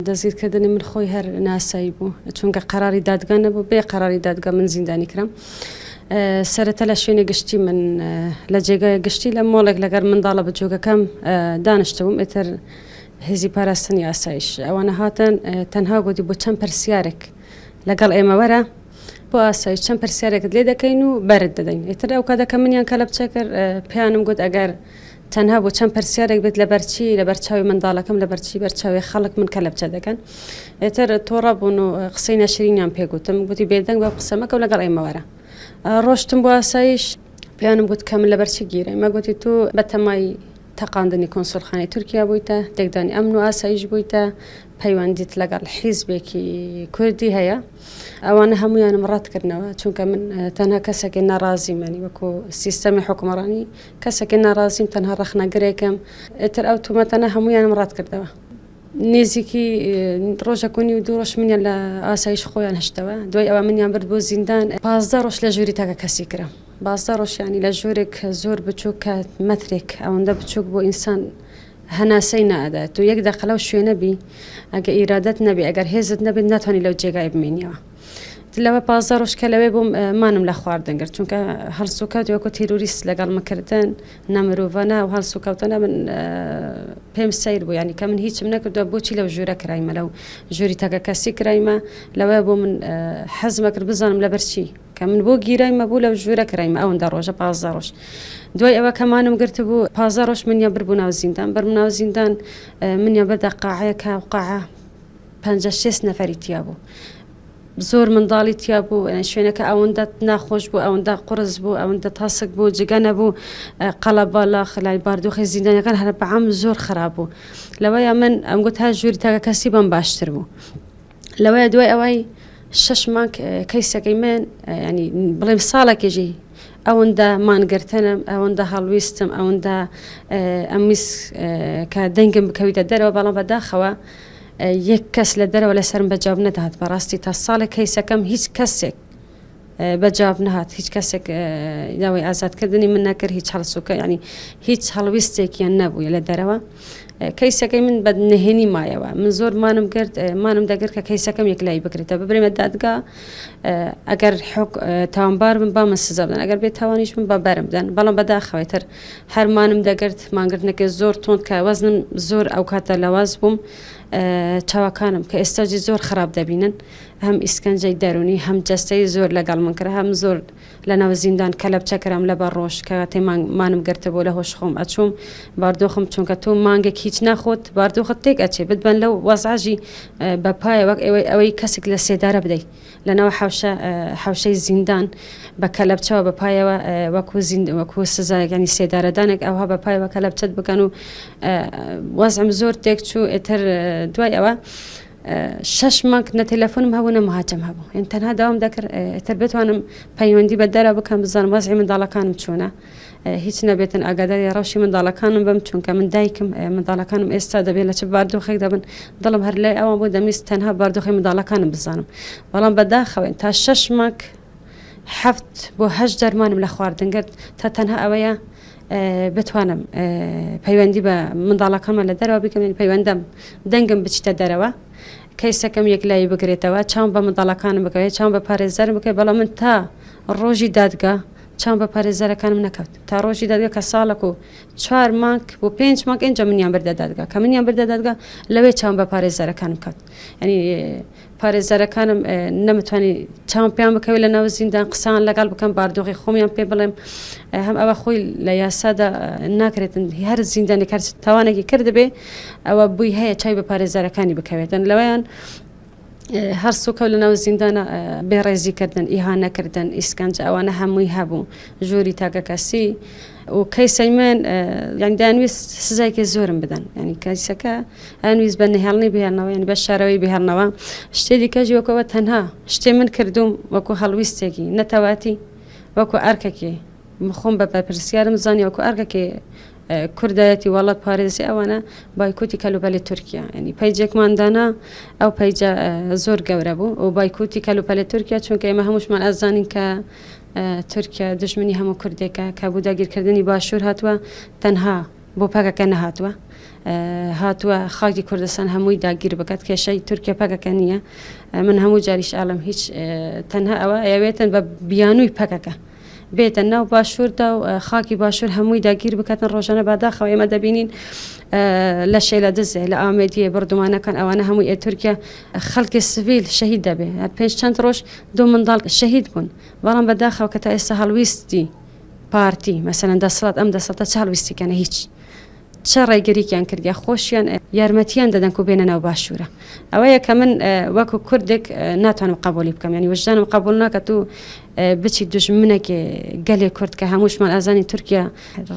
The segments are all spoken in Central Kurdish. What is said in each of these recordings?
دەستگیرکردنی من خۆی هەر ناسایی بوو چونکە قەراری دادگا نەبوو بێ قەراری دادگا من زیندانی کرام سەرەتا لە شوێنە گشتی من لە جێگای گشتی لە مۆڵێک لەگەر منداڵە بچووکەکەم دانیشتبووم ئێتر هێزی پاراستنی ئاسایش ئەوانە هاتن تەنها گوتی بۆ چەند پرسیارێک لەگەڵ ئێمەوەرە بۆ ئاسایش چەند پرسیارێکت لێ دەکەین و بەرت دەدەین ئێتر ئەو کاتەکە منیان کە لە بچێ کرد پیانم گوت ئەگەر تەنها بۆ چەند پرسیارێک بێت لەبەرچی لەبەرچاوی منداڵەکەم لەبەرچی بەرچاوی خەڵک من کەلەبچە دەکەن ئێتر تۆڕە بوون و قسەی ناشرینیان پێگوتم گوتی بێدەنگ بە قسەمەکە و لەگەڵ ئێمەوەرە ڕۆشتم بۆ ئاسایش پێیانم گوت کە من لەبەرچی گیرە مە گوتی تو بەتەمای تەقاندنی کۆنسولخانی تورکیا بوویتە تێکدانی ئەمن و ئاسایش بوویتە پەیوەندیت لەگەڵ حیزبێکی کوردی هەیە ئەوانە هەمویانم ڕەتکردنەوە چونکە من تەنها کەسێکی ناڕازی منی وەکو سیستەمی حکومڕانی کەسێکی ناڕازیم تەنها ڕەخنەگرێکم ئیتر ئەو تومەتەنە هەمویانم ڕەت کردەوە نێزیکی ڕۆژەک و نیو دوو ڕۆژ منیان لە ئاسایش خۆیان هشتەوە دوای ئەوە منیان برد بۆ زیندان پازدە ڕۆژ لە ژووری تاکە کەسی کرم بازدە ڕۆژیانی لە ژوورێک زۆر بچووک کە مەترێک ئەوەندە بچووک بۆ ئینسان هەناسەی نادات تو یەک دەقە لەو شوێنە بی ئەگە ئیرادەت نەبێ ئەگەر هێزت نەبێت ناتوانانی لەو جێگای بمێنیەوە لەوە پازدە ڕۆژ کە لەوێ بووم مانم لە خواردن گرت چونکە هەڵسوکەوت وەکو تیرروریست لەگەڵ مکردن نەمرۆڤەنە و هەڵسوکەوتنە من پێم سیر بوو ینی کە من هیچم نەکردو بۆچی لەو ژوورە کرایمە لەو ژووری تەکە کەسی کرایمە لەوەیە بۆ من حەزمە کرد بزانم لە بەرچی کە من بۆ گیرایمە بوو لەو ژوورە کرایمە ئەوەن دە ڕۆژە پازدە ڕۆژ دوای ئەوە کەمانم گرت بوو پازدە ڕۆژ منیان بر بوو ناو زیندان بەرم ناو زیندان منیان بەردە قاعەیە کاوقاعە پەنجا شێست نەفەری تیا بوو زۆر منداڵی تیا بوو شوێنەکە ئەوەندە ناخۆش بوو ئەوەندە قرس بوو ئەوەندە تاسک بوو جگە نەبوو قەڵە بالا خلای باردۆخی زیندانەکان هەر بەعام زۆر خراپ بوو لەوەیە من ئەم گوت هەر ژووری تاکە کەسی بەم باشتر بوو لەوەیە دوای ئەوەی شش مانک کەیسەکەی من ینی بڵێم ساڵێکێژی ئەوەندە مانگرتنم ئەوەندە هەڵویستم ئەوەندە ئەمیس کە دەنگم بکەویتە دەرەوە بەڵام بەداخەوە یەک کەس لە دەرەوە لەسەرم بە جواب نەدات بەڕاستی تا ساڵێک کەیسەکەم هیچ کەسێک بە جواب نهات هیچ کەسێک داوای ئازادکردنی من نەکرد هیچ هەڵسوکە ینی هیچ هەڵویستێکیان نەبووە لە دەرەوە کەیسەکەی من بە نهێنی مایەوە من زۆر مانم کرد مانم دەگرت کە کەیسەکەم یەکلای بکرێتە ببرێمە دادگا ئەگەر تاوانبار من بامە سزا بدەن ئەگەر بێت تاوانیش من بە بەرم بدەن بەڵام بەداخەوەی تر هەر مانم دەگرت مانگرتنەکە زۆر تۆند کە وەزنم زۆر ئەو کاتە لەواز بووم چاوەکانم کە ئێستاجی زۆر خراپ دەبینن هەم ئیسکەنجەی دەرونی هەم جەستەی زۆر لەگەڵ من کرا هەم زۆر لە ناو زیندان کە لە بچەکرام لە بە ڕۆژ کە تێمان مانم گرتە بۆ لە هۆش خۆم ئەچوم باردۆخم چونکە تۆ مانگێک هیچ ناخۆت باردۆخت تێک ئەچێ بتبەن لەو وەزعژی بەپایە وەک ئەوەی ئەوەی کەسێک لە سێدارە بدەیت لەناو حەوشە حەوشەی زیندان بە کەلەبچەوە بە پایەوە وەکو وەکو سزایەک ینی سێدارەدانێک ئەوها بە پایەوە کەلەبچەت بکەن و وەزم زۆر تێک چوو ئێتر دوای ئەوە شش مانگ نە تەلەفۆنم هەبوو نە مهاجم هەبوو ئین تەنها داوام دەکرد ئێتر بتوانم پەیوەندی بە دەرە بکەم بزانم وەزی منداڵەکانم چۆنە هیچ نەبێتن ئاگاداری ڕەوشی منداڵەکانم بم چونکە من دایکم منداڵەکانم ئێستا دەبێت لە چ باردۆخێک دەبن دڵم هەر لای ئەوان بۆ دەمیست تەنها باردۆخی منداڵەکانم بزانم بەڵام بەداخەوەن تا شەش مانگ حەفت بۆ هەش دەرمانم لە خواردنگرت تا تەنها ئەوەیە بتوانم پەیوەندی بە منداڵەکەمە لە دەرەوە بکەم پەیوەندەم دەنگم بچتە دەرەوە کەیسەکەم یەک لای بگرێتەوە چاوم بە منداڵەکانم بکەوێت چاوم بە پارێزەر بکەێت بەڵام من تا ڕۆژی دادگا چاوم بە پارێزەرەکانم نەکەوت تا ڕۆژی دادگە کە ساڵەک و چوار مانگ بۆ پێنج مانگ ئێنجا منیان بردە دادگا کە منیان بردە دادگا لەوێ چاوم بە پارێزەرەکانم کەوت ینی پارێزەرەکانم نەمتوانی چاوم پێیان بکەوێت لە ناو زیندان قسان لەگەڵ بکەم باردۆغی خۆمیان پێ بڵێم هەم ئەوە خۆی لە یاسادا ناکرێتن هەر زیندانی کار تاوانێکی کردبێ ئەوە بووی هەیە چای بە پارێزەرەکانی بکەوێتن لەوەیان هەر سوکەو لە ناو زیندانە بێڕێزی کردن ئیهانە کردن ئیسکەنج ئەوانە هەمووی هەبوو ژووری تاکەکەسی و کەیسەی من یعنی دانویست سزایکە زۆرم بدەن ینی کەسەکە ئەنویست بە نهێڵنی بهێنەوە یعنی بە شارەوەی بهێنەوە شتێ دیکەژ وەکەوە تەنها شتێ من کردوم وەکو هەڵویستێکی نەتەواتی وەکو ئەرکەکێ مخۆم بە بەرپرسیارم زانانی وەکو ئەرکەکێ کوردایەتی وەڵە پارێزی ئەوانە بایکوتی کەلوپەلی تورکیا ینی پەیجێکمان دانا ئەو پەیجە زۆر گەورە بوو و بایکوتی کەلوپەلی تورکیا چونکە ئێمە هەمووشمان ئازانین کە تورکیا دژمنی هەموو کوردێکە کە بوو داگیرکردنی باشوور هاتووە تەنها بۆ پەکەکە نەهاتووە هاتووە خاکی کوردستان هەمووی داگیر بکات کێشەی تورکیا پەکەکە نییە من هەموو جاریش ئالم هیچ تەنها ئەوە ئەوێتن بە بیانووی پەکەکە بێتە ناو باشووردا و خاکی باشوور هەمووی داگیر بکاتن ڕۆژانە باداخەوە ئێمە دەبینین لە شێلە دزێ لە ئامێدیە بردومانەکان ئەوانە هەمووی ئێ تورکیا خەڵکی سڤیل شەهید دەبێ پێنج چەند ڕۆژ دوو منداڵ شەهید بوون بەڵام بەداخەوە کە تا ئێستا هەڵویستی پارتی مەسەن دەسڵات ئەم دەسەڵتە چاڵویستیکەنە هیچ. چ ڕێگریکیان کردیە خۆشیان یارمەتیان دەدەن کو بێنە ناو باشوورە ئەوەیە کە من وەکو کوردێک ناتوانم قبولی بکەم ینی وژدانم قبول ناکات و بچی دژمنەکێ گەلێ کورد کە هەمووشمان ئازانی تورکیا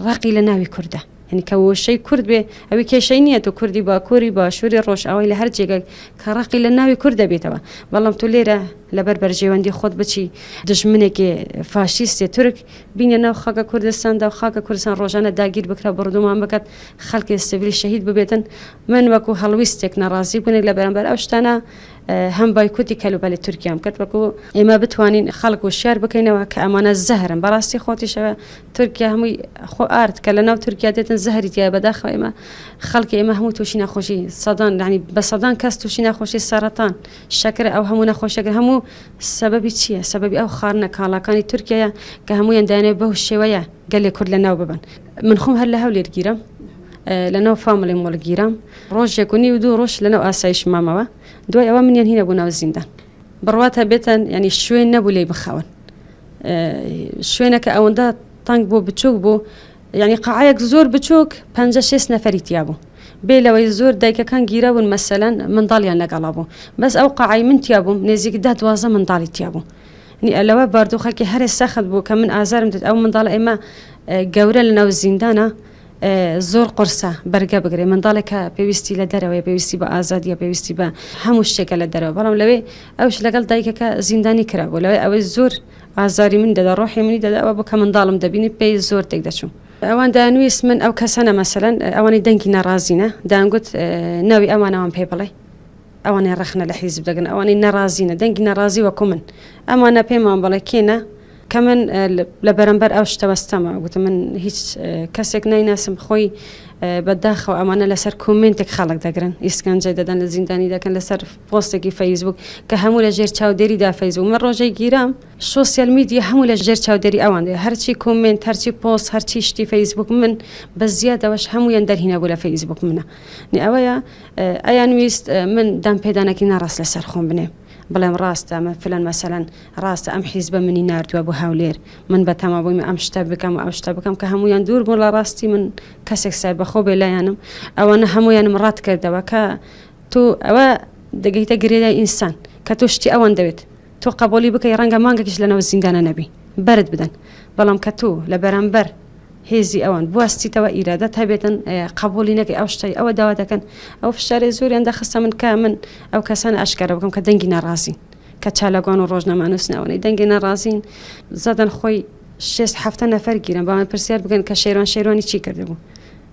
ڕقی لە ناوی کووردە هەنی کە وشەی کورد بێ ئەوی کێشەی نییە و کوردی باکووری باشووری ڕۆژ ئەوەی لە هەر جێگەک کە ڕقی لە ناوی کورد دەبێتەوە بەڵام تو لێرە لەبەر بەرژێوەندی خۆت بچی دژمنێکی فاشیستێ تورک بینە ناو خاکە کوردستاندا و خاکە کوردستان ڕۆژانە داگیر بکرا بڕدومان بکات خەلکێ سڤیل شەهید ببێتن من وەکو هەڵویستێک ناڕازی بونێک لە بەرامبەر ئەو شتانە هەم بایکوتی کەلوپەلی تورکیام کرد وەکو ئێمە بتوانین خەڵک و شار بکەینەوە کە ئەمانە زەهرن بەڕاستی خۆتیشەوە تورکیا هەمووی خۆ ئارد کە لە ناو تورکیا دێتن زەهری تیا بەداخەوە ئێمە خەڵکی ئێمە هەموو تووشی نەخۆشی سەدان لەنی بە سەدان کەس تووشی نەخۆشی سەرەتان شەکرە ئەو هەموو نەخۆشیەکە هەموو سەبەبی چییە سەبەبی ئەو خارنە کاڵاکانی تورکیایە کە هەموویان دایانێ بەو شێوەیە گەلێ کورد لە ناو ببن من خۆم هەر لە هەولێر گیرم لەناو فامڵی مۆڵ گیرم ڕۆژێک و نی و دوو ڕۆژ لەناو ئاسایش مامەوە دوای ئەوە منیان هینە بوو ناو زیندان بڕوات هەبێتن ینی شوێن نەبوو لی بخەون شوێنەکە ئەوەندە تەنگ بۆ بچوک بوو یانی قاعەیەک زۆر بچوک پەنجە شێست نەفەری تیا بوو بێ لەوەی زۆر دایکەکان گیرابوون مەسەلەن منداڵیان لەگەڵا بوو بەس ئەو قاعەی من تیا بووم نێزیک دە دوازدە منداڵی تیا بوو نی ئەلەوە باردوخەکی هەرێ سەخت بوو کە من ئازارم دێت ئەو منداڵ ئێمە گەورە لە ناو زیندانە زۆر قرسە بەرگە بگرێ منداڵێک کە پێویستی لە دەرەوەی پێویستی بە ئازادیە پێویستی بە هەموو شتێکە لە دەرەوە بەڵام لەوێ ئەوش لەگەڵ دایکەکە زیندانی کرابوو لەوەی ئەوەی زۆر ئازاری من دەدا ڕۆحی منی دەدا ئەوە بۆ کە منداڵم دەبینی پێی زۆر تێک دەچوم ئەوان دانویست من ئەو کەسەنە مەسەلەن ئەوانی دەنگی ناڕازینە دانگوت ناوی ئەوانەوان پێ بڵێ ئەوانێ ڕخنە لە حیزب دەگەن ئەوانەی ناڕازینە دەنگی ناڕازی وەکو من ئەمانە پێمان بڵێ کێنە کە من لە بەرەمبەر ئەو شتەوەستەمە گوتم من هیچ کەسێک نایناسم خۆی بەداخەوە ئەمانە لەسەر کۆمنتێک خەڵک دەگرن ئیسکەنجە دەدەن لە زیندانی دەکەن لەسەر پۆستێکی فەیسبووک کە هەموو لە ژێر چاودێری دا فەیسبووک من ڕۆژێک گیرام سۆسیال میدیا هەموو لە ژێر چاودێری ئەوان دێ هەرچی کۆمنت هەرچی پۆست هەرچی شتی فەیسبووک من بە زیادەوەش هەموویان دەرهینە بوو لە فەیسبووک منە نی ئەوەیە ئەیان ویست من دام پێدانەکی ناڕاست لەسەر خۆم بنێ بڵێم ڕاستە من فلەن مەسەەن ڕاستە ئەم حیز بە منی نردووە بۆ هاولێر من بە تەما بوویم ئەم شتە بکەم ئەم شتە بکەم کە هەمویان دوور بوون لە ڕاستی من کەسێک سای بەخۆ بێ لایەنم ئەوانە هەمویانم ڕات کردەوە کە تۆ ئەوە دەگەیتە گرێدای ئینسان کە تۆ شتی ئەوەن دەوێت تۆ قبولی بکەی ڕەنگە مانگەکیش لەنەوە زیندانە نەبی بەرت بدەن بەڵام کە تۆ لە بەرامبەر هێزی ئەوان بواستیتەوە ئیرادەت هەبێتن قبولی نەکەی ئەو شتەی ئەوە داوا دەکەن ئەو فشارێ زۆریان دەخستە من کە من ئەو کەسانە ئاشکارە بکەم کە دەنگی ناڕازین کە چالاگوان و ڕۆژنامانوسنەوەی دەنگی ناڕازین زەدەن خۆی شێست حەفتە نەفەر گیران بەڵام پرسیار بکەن کە شێران شێروانی چی کردبوو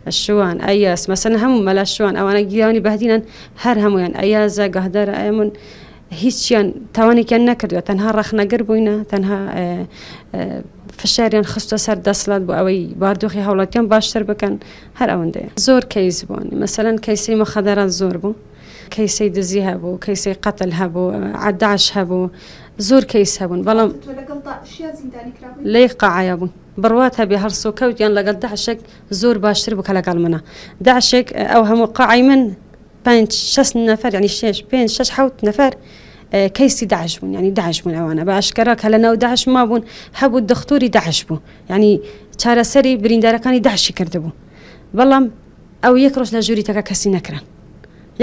شوان ئەیاس مەسەن هەموو مەلا شوان ئەوانە گیرانی بەدینان هەر هەمویان ئەیازە گەهدار ئەمن هیچیان تاوانێکیان نەکردوە تەنها ڕەخنەگر بووینە تەنها فشاریان خستە سەر دەسڵات بۆ ئەوەی باردۆخی هەوڵەتیان باشتر بکەن هەر ئەوەندەیە زۆر کەیس بوون مەسەەن کەیسی مەخەدەران زۆر بوو کەیسی دزی هەبوو کەیسی قەتل هەبوو عداش هەبوو زۆر کەیس هەبوون بەڵام تۆ لەگەڵ داعشیا زیندانی کرابووی؟ لەیەک قاعەیا بووین بڕوات هەبێ هەڵسوکەوت یان لەگەڵ داعشێک زۆر باشتر بوو کە لەگەڵ منە داعشێک ئەو هەموو قاعەی من پێنج شەست نەفەر یانی شێش پێنج شەش حەوت نەفەر کەیسی داعش بوون یانی داعش بوون ئەوانە بە ئاشکرا کە لە ناو داعش ما بوون هەبوو دەختوری داعش بوو یانی چارەسەری بریندارەکانی داعشی کردبوو بەڵام ئەو یەک ڕۆژ لە ژووری تەکە کەسی نەکران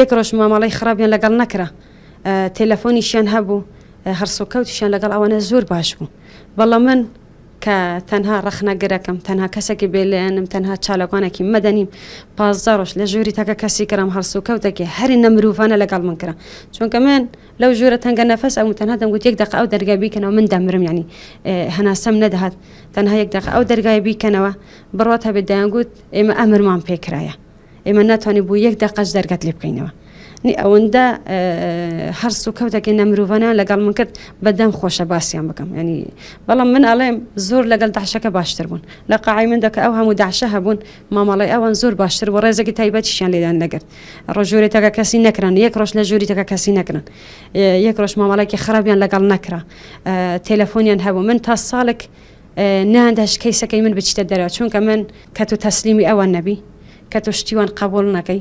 یەک ڕۆژ مامەڵەی خراپیان لەگەڵ نەکرا تێلەفۆنیشیان هەبوو هەڕسوکەوتیشیان لەگەڵ ئەوانە زۆر باش بوو بەڵام من کە تەنها ڕەخنەگرەکەم تەنها کەسێکی بێلێنم تەنها چالەکانێکی مەدەنیم پازدە ڕۆژ لە ژووری تاکە کەسی کرام هەڵسوکەوتێکی هەری نەمروڤانە لەگەڵ من کرا چونکە من لەو ژوورە تەنگە نەفەس ئەو تەنها دەمگوت یەک دەقە ئەو دەرگای بیکەنەوە من دەمرم ینی هەناسەم نەدەهات تەنها یەک دەقە ئەو دەرگای بیکەنەوە بڕات هەبێت دەیانگوت ئێمە ئەمرمان پێکرایە ئێمە ناتوانین بۆ یەک دەقەش دەرگەت لێ بکەینەوە نی ئەوەندە هەرس و کەوتەکە نەمرروڤانە لەگەڵ من کرد بەدەم خۆشە باسییان بکەم ینی بەڵام من ئەڵێم زۆر لەگەڵ داعشەکە باشتر بوون لە قاعی من دەکە ئەو هەموو داعشە هەبوون مامەڵی ئەوان زۆر باشتر بۆ ڕێزێکی تایبەتیشیان لێدان نەگرت ڕۆژوری تەکە کەسی نەکران یەک ڕۆژ لە ژووری تەکە کەسی نەکرن یەک ڕۆژ مامەڵێکی خراپیان لەگەڵ نەکرا تەلەفۆنیان هەبوو من تا ساڵێک نا دەش کەیسەکەی من بچیتە دەرەوە چونکە من کە تو تەسلیمی ئەوان نەبی کە تو شتیوان قبول نەکەی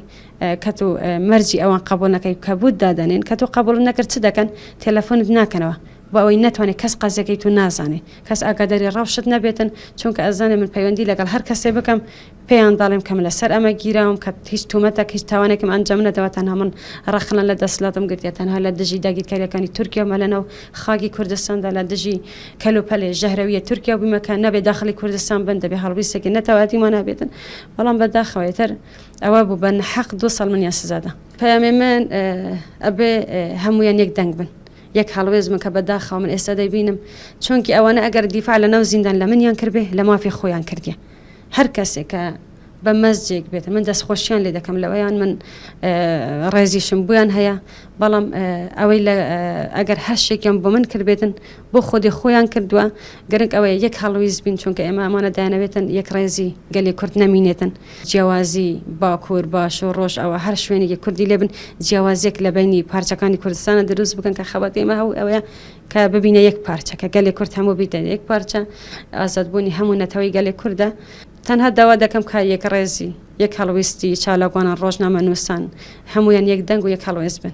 کە تو مەرجی ئەوان قبول نەکەی کە بود دادەنێن کە تو قبول نەکرد چ دەکەن تەلەفۆنت ناکەنەوە بۆ ئەوەی ناتوانێت کەس قەزیەکەی تو نازانێ کەس ئاگاداری ڕەوشت نەبێتن چونکە ئەزانێ من پەیوەندی لەگەڵ هەر کەسێ بکەم پێیان دەڵێم کە من لەسەر ئەمە گیراوم کە هیچ تومەتەک هیچ تاوانێکم ئەنجام نەدەوە تەنها من ڕەخنە لە دەسەڵاتم گرتیە تەنها لە دژی داگیرکاریەکانی تورکیا و مەلەنە و خاکی کوردستاندا لە دژی کەلوپەلێ ژەهرەویە تورکیا بوومە کە نەبێ داخلی کوردستان بن دەبێ هەڵویستێکی نەتەواتیمانە بێتن بەڵام بەداخەوە تر ئەوە بوو بە نەحەق دو ساڵ منیان سزادا پەیامێ من ئەبێ هەمویان یەک دەنگ بن یەک هەڵوێز من کە بەداخەوە من ئێستا دەیبینم چونکی ئەوانە ئەگەر دیفاع لە ناو زیندان لە منیان کردێ لە مافی خۆیان کردیە هەر کەسێک کە بە مەسجێک بێت من دەستخۆشیان لێ دەکەم لەوەیان من ڕێزیشم بویان هەیە بەڵام ئەوەی ئەگەر هەر شتێکیان بۆ من کردبێتن بۆ خۆدی خۆیان کردووە گەرنک ئەوەیە یەک هەڵویست بین چونکە ئێمە ئەمانە دایانەوێتن یەک ڕێزی گەلی کورد نەمینێتن جیاوازی باکوور باش و ڕۆژ ئەوە هەر شوێنێکی کوردی لێبن جیاوازێک لە بینی پارچەکانی کوردستانە دروست بکەن کە خەبەت ئێمە هەو ئەوەیە کە ببینە یەک پارچە کە گەلێ کورد هەموو بیتە یەک پارچە ئازادبوونی هەموو نەتەوەی گەلێ کوردە تەنها داوا دەکەم کا یەک ڕێزی یەک هەڵویستی چالاکوانان ڕۆژنامە نووسان هەمویان یەک دەنگ و یەک هەڵوێست بن.